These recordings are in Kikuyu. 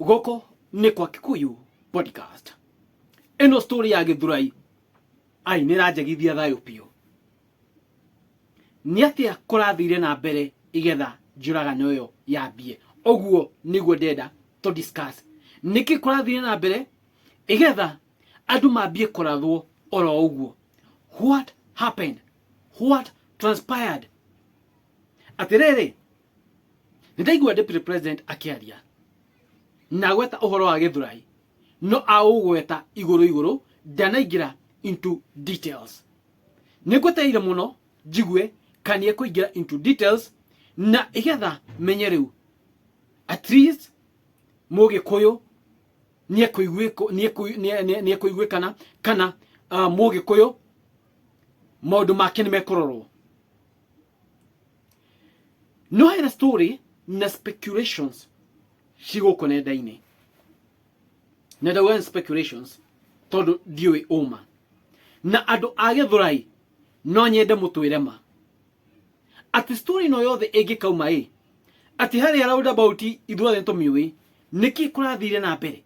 Gũkũ nĩ kwa Kikuyu podcast. Ĩno story ya Gĩthurai. Ai, nĩ ĩranjagithia thayũ biũ. Nĩ atĩa kũrathire na mbere igetha njũragano ĩyo yambie? Ũguo nĩguo ndenda to discuss. Nĩkĩ kũrathire na mbere igetha andũ mambie kũrathwo oro ũguo? What happened? What transpired? Atĩrĩrĩ, nĩndaigua deputy president akĩaria na gweta ũhoro wa gĩthurai no aũgweta igũrũ igũrũ ndanaingĩra into details nĩngwetereire mũno njigue kana ekũingĩra into details na ĩgetha menye rĩu at least mũgĩkũyũ nĩekũiguĩko- nĩekũi- nĩe- nĩe- nĩekũiguĩkana kana ah, mũgĩkũyũ maũndũ make nĩ mekũrorwo no hena story na speculations cigũkũ nenda-inĩ na ndauga nĩ speculations tondũ ndiũĩ ũma na andũ a gĩthũrai no nyende mũtwĩre ma atĩ story ĩno yothe ĩngĩkauma ĩ atĩ harĩa roundabout ithuothe nĩ tũmĩũĩ nĩkĩ kũrathire na mbere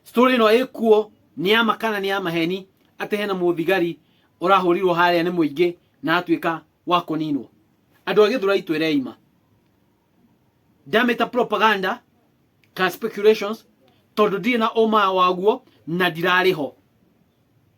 story ĩno ĩkuo nĩ ya makana nĩ ya maheni atĩ hena mũthigari ũrahũrirwo harĩa nĩ mũingĩ na atuĩka wa kũninwo andũ a gĩthurai twĩrei ma ndamĩta propaganda ka speculations tondũ ndirĩ na ũma waguo na ndirarĩ ho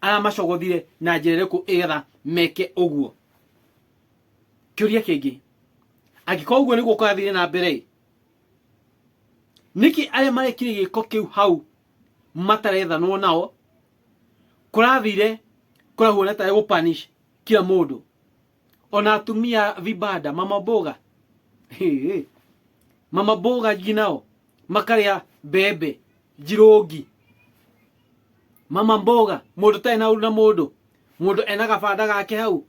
aramacogothire na njĩra ĩrĩkũ ĩgetha meke ũguo kĩũria kĩngĩ angĩkorwo ũguo nĩguo kũrathiire na mbere ĩ nĩkĩ arĩa marekire gĩko kĩu hau matarethanwo nao kũrathire kũrahuana tarĩ gũpanish kila mũndũ ona atumia vibanda mama boga Hee. mama boga ngi nao makarĩa mbembe njirũngi mama mboga mũndũ tarĩ na ũru na mũndũ mũndũ ena gabanda gake hau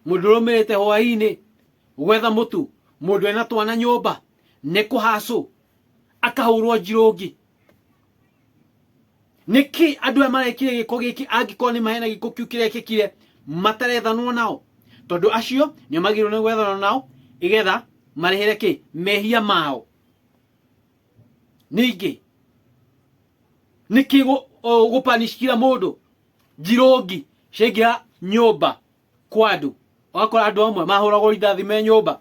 mũndũ ũrũmĩrĩte hwaĩ-inĩ gwetha mũtu mũndũ ena twana nyũmba nĩ kũhacũ akahũrwo njirũngi nĩkĩ andũ aya marekire gĩko gĩkĩ angĩkorwo nĩ mahena gĩko kĩu kĩrekĩkire matarethanwo nao tondũ acio nĩ magĩrĩirwo nĩ gwethanwo nao igetha marehere kĩ mehia mao ningĩ nĩkĩ gũ- o, gũpanish kira mũndũ njirũngi ciaingĩra nyũmba kwa andũ ũgakora andũ amwe mahũragwo rithathi me nyũmba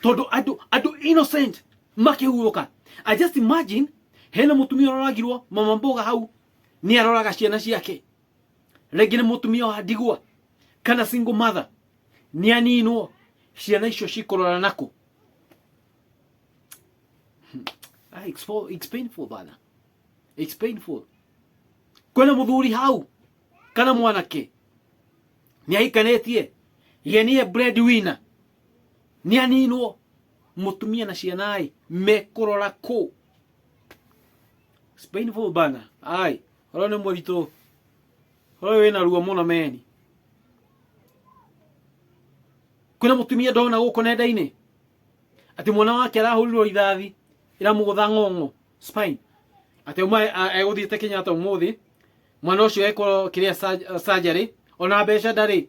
tondu andu andu innocent makihuruka i just imagine hena mutumia uroragirwo mama mboga hau ni aroraga ciana ciake rĩngĩ nĩ mutumia wa ndigwa kana single mother ni aninwo ciana icio cikurora naku Hmm. Ah, it's, for, it's painful bana it's painful kwena muthuri hau kana mwanake ni aikanetie ye niye breadwinner nä aninwo mutumia na ciana ai mekurora ku It's painful bana ai oro ni muritu oro wina ruo muno meni kwina mutumia ndona guku nenda-ini ati mwana wake arahurirwo ithathi iramugutha ng'ong'o spine ati uma eguthiite kenyatta umuthi mwana ucio ekwo kiria surgery ona mbeca ndari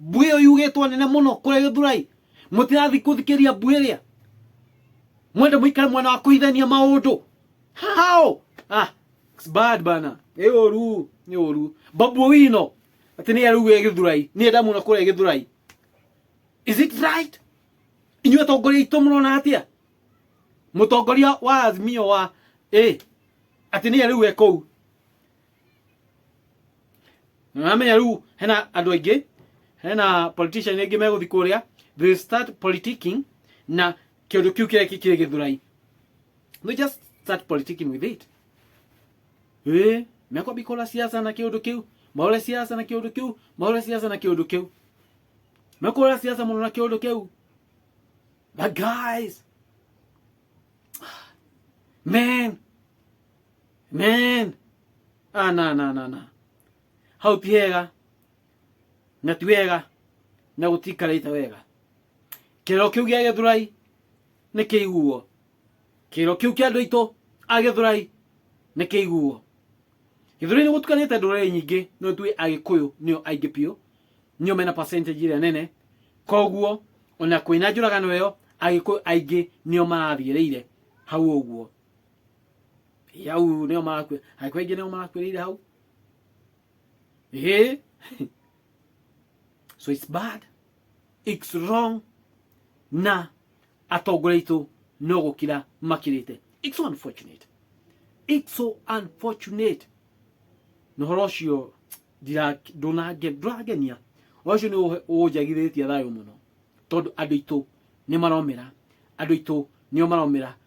mbuĩ ĩyo yugĩtwo nene mũno kũrĩa gĩthurai mũtirathi kũthikĩria mbuĩ ĩrĩa mwende mũikare mwena wa kũhithania maũndũ hao ah, it's bad bana nĩ ũru nĩ ũru babu wino atĩ nĩ arĩu e gĩthurai nĩ enda mũno kũrĩa gĩthurai is it right inyuĩ atongoria aitũ mũrona atĩa mũtongoria wa azimio wa ĩ atĩ nĩ arĩu e kũu na namenya rĩu hena andũ aingĩ hena politician aingĩ megũthi kũrĩa they will start politicking na kĩndũ kĩu kĩrĩa kĩ- kĩrĩ gĩthurai they just start politicking with it ĩ mekwambi kũra siasa na kĩũndũ kĩu maũre siasa na kĩũndũ kĩu maũre siasa na kĩũndũ kĩu mekũra siasa mũno na kĩũndũ kĩu but guys man Amen. Ah, na, na, na, na. Hau ti hega. Na ti wega. Na gũtikarĩte wega. Kĩro kĩu gĩa gĩthurai nĩ kĩiguo. Kĩro kĩu kĩa andũ aitũ a gĩthurai nĩ kĩiguo. Gĩthurai nĩ gũtukanĩte ndũrĩrĩ nyingĩ no tuĩ agĩkũyũ nĩo aingĩ biũ. Nĩo mena percentage ĩrĩa nene. Koguo ona kwĩna njũragano ĩyo agĩkũyũ aingĩ nĩo marathiĩrĩire hau ũguo. yau nĩo marakuĩra aikwa aingĩ nĩo marakuĩrĩire hau Ehe. so it's bad it's wrong na atongoria aitũ no gũkira makirĩte it's so unfortunate it's so unfortunate na ũhoro ũcio ndira- ndũnange- ndũrangenia ũhoro ũcio nĩ ũhe- ũnjagithĩtie thayũ mũno tondũ andũ aitũ nĩ maromera andũ aitũ nĩo maromera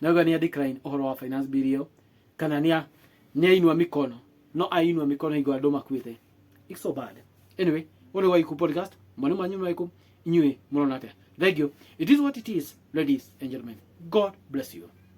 Nauga nĩ a decline ũhoro wa finance bill ĩyo kana nĩ a nĩ ainua mikono no ainua mikono hingo andũ makuĩte it's so bad anyway ũrĩ wa iku podcast mwana manyu nĩ waiku inyuĩ mũrona atĩa thank you it is what it is ladies and gentlemen god bless you